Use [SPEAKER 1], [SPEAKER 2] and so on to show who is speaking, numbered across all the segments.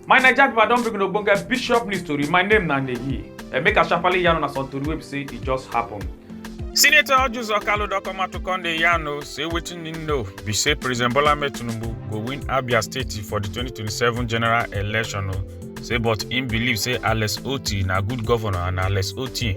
[SPEAKER 1] my naija pipo i don bring una ogbonge bishop news tori my name na neyi and make i sharparly yarn una some tori wey be say e just happen. senator ojuzo kalu don come out to come dey yarn o say wetin im know be say president bola ahmed tinubu go win abia state for di 2027 general election o say but im believe say alex otti na good governor and alex otti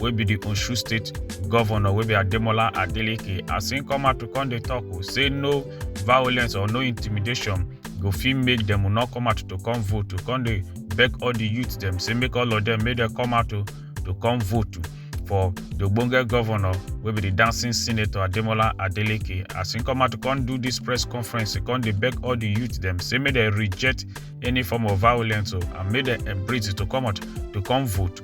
[SPEAKER 1] wey be di osun state govnor wey be ademola adeleke as im come out to come dey tok o say no violence or no intimidation go fit make dem no come out to come vote to come dey beg all di youth dem say make all of dem make dem come out to to come vote for di ogbonge govnor wey be di dancing senator ademola adeleke as im come out to come do dis press conference to come dey beg all di youth dem say make dem reject any form of violence o and make dem embrace it to come out to come vote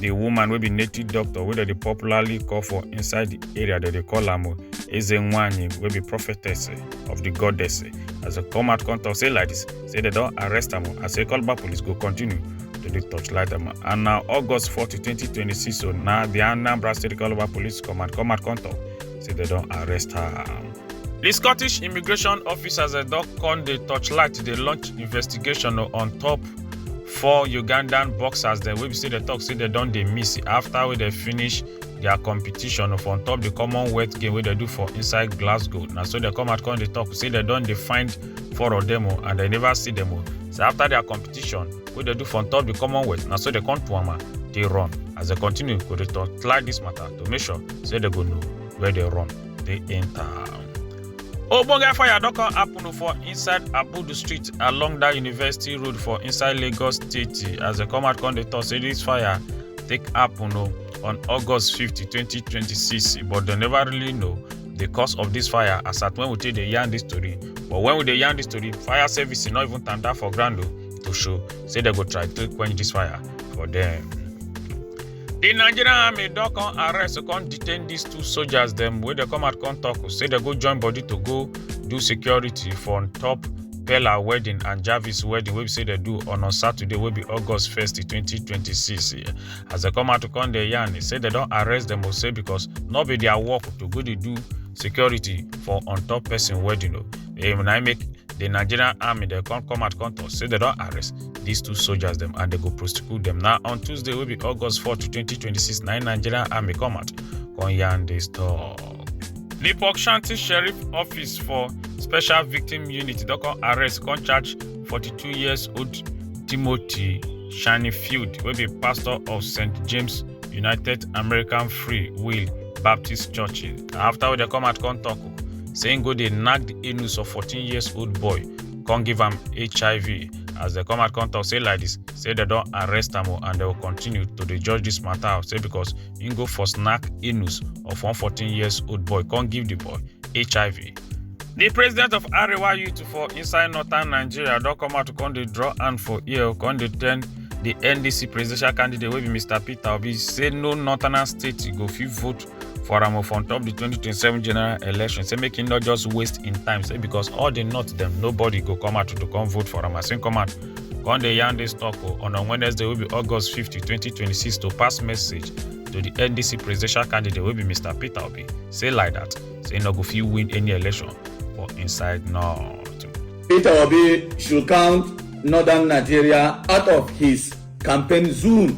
[SPEAKER 1] the woman wey be native doctor wey dem dey popularly call for inside the area dem dey call am eze nwanyi wey be prophetess of the goddess as dem come out come talk say like this say dem don arrest am and say calabar police go continue to dey torchlight am and na august 40 2026 so na the anambra state calabar police command come out come talk say dem don arrest her. di scottish immigration officers eh, don come dey torchlight to dey launch investigation oh, on top four ugandan boxers dem wey be say dem tok say dem don dey miss afta wey dem finish dia competition for on top di commonwealth game wey dem do for inside glasgow na so dem come out come dey tok say dem don dey find four of dem oh, and dem never see dem oh. so afta dia competition wey dem do for on top di commonwealth na so dem come do am and dey run as dem continue go dey torchlight dis matter to make sure say dem go know where dem run dey enter. ogbonge fire don come happen for inside abudu street along dat university road for inside lagos state as dem come out come dey tok say dis fire take happen o on august 50 2026 but dem never really know the cause of dis fire as at wen we take dey yarn dis tori but wen we dey yarn dis tori fire service no even tanda for ground o to show say dem go try to quench dis fire for dem. di nigerian army don come arrest come detain dis two soldiers dem wey dey come out come tok say dem go join body to go do security for on top Pella wedding and Jarvis wedding wey be say dem do on on Saturday wey be August 1st 2026. As dem come out to come dey yarn, e say dem don arrest dem o say because no be their work to go dey do security for on top person wedding o. Eh, when I make the Nigerian army, they come come out come to say they don't arrest these two soldiers them and they go prosecute them. Now on Tuesday will be August 4 to 2026. Nine Nigerian army come out come yarn this talk. The Port Shanty Sheriff Office for Special Victim Unit don come arrest come charge 42 years old Timothy Shanifield wey be pastor of St James United American Free Will Baptist Church. Na after wey dem come out come talk say im go dey knack di anus of 14 years old boy come give am hiv as dem come out come talk say like dis say dem don arrest am and dem go continue to dey judge dis matter say because im go for snack anus of one 14 years old boy come give di boy hiv di president of arewa youth for inside northern nigeria don come out to come dey draw hand for ear come dey tell di ndc presidential candidate wey be mr peter obi say no northern state go fit vote for am of on top the 2027 general election say make him not just waste in time say because all the not them nobody go come out to come vote for am as him come out come dey yarn this talk o on on wednesday wey be august 50 2026 to pass message to the ndc presidential candidate wey be mr peter obi say like that say him no go fit win any election for inside north. Peter Obi should count northern Nigeria out of his campaign zoom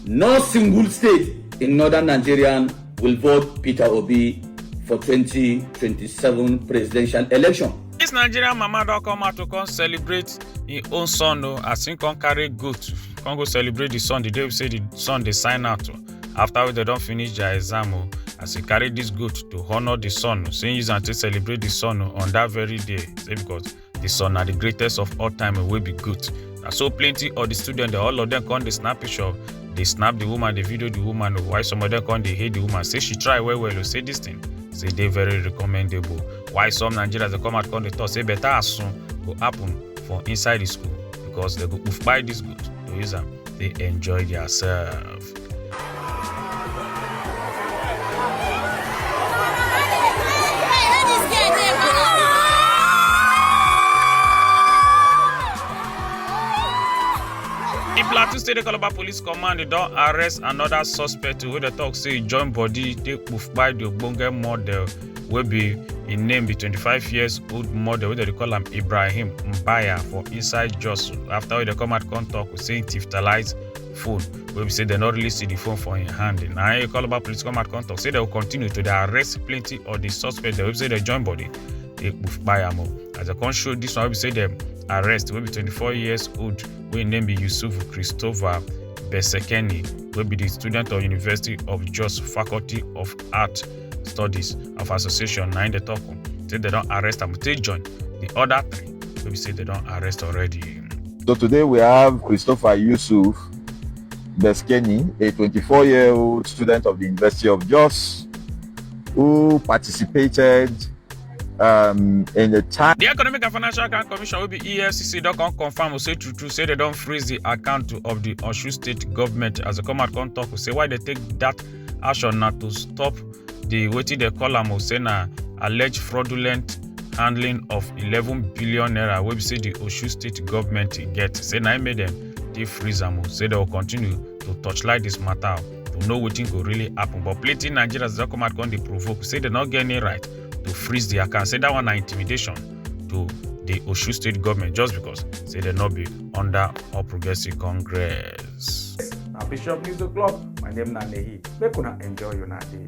[SPEAKER 1] no single state in northern nigeria will vote peter obi for 2027 presidential election dis nigerian mama don come out to come celebrate im own son o as im come carry goat come go celebrate di son di day wey say di son dey sign out o afta wey dem don finish dia exam o as e carry dis goat to honour di son o say im use am take celebrate di son o on dat very day say becos This one na the greatest of all time wey be goat. Na so plenty of the students dem all of them come dey snap picture dey snap the woman dey video the woman o while some of them come dey hate the woman say she try well well o say this thing say dey very recommendable while some nigerians dey come out come dey talk say better asun go happen for inside the school because they go kpai this goat to use am dey enjoy theirself. di plateau state calabar police command don arrest anoda suspect wey dem tok say join body take kpai di ogbonge model wey be im name be 25 years old model wey dem dey call am ibrahim mbaya for inside jos afta wey dem come out come tok say im tiftalize phone wey be say dem no really see the phone for im hand na im calabar police come out come talk say dem go continue to dey arrest plenty of the suspects dem wey be say dem join body dey kpai am o as dem come show this one wey be say dem arrest wey be twenty-four years old wey im name be yusuf christopher besekeni wey be the student of university of jos faculty of art studies of association na im dey talk o say dem don arrest am take join the other three wey be say dem don arrest already. So today we have Christopher Yusuf Beskeni, a 24 year old student of the University of Jos, who participated um, in the time. The Economic and Financial Account Commission wey be EFCC don come confirm say true true say dem don freeze the account of the Osun State government as dem come out come talk say why dem take that action na to stop di wetin dem call am o say na alleged fraudulent handling of eleven billion naira wey be say di osun state government get say na im make dem dey freeze am o say dem go continue to torchlight dis matter to know wetin go really happen but plenty nigerians don come out come dey provoke say dem no get any right to freeze di account say dat one na intimidation to di osun state government just because say dem no be under all progressives congress. Yes. Now Bishop News O'Clock, my name na Nehi. Make una enjoy your day.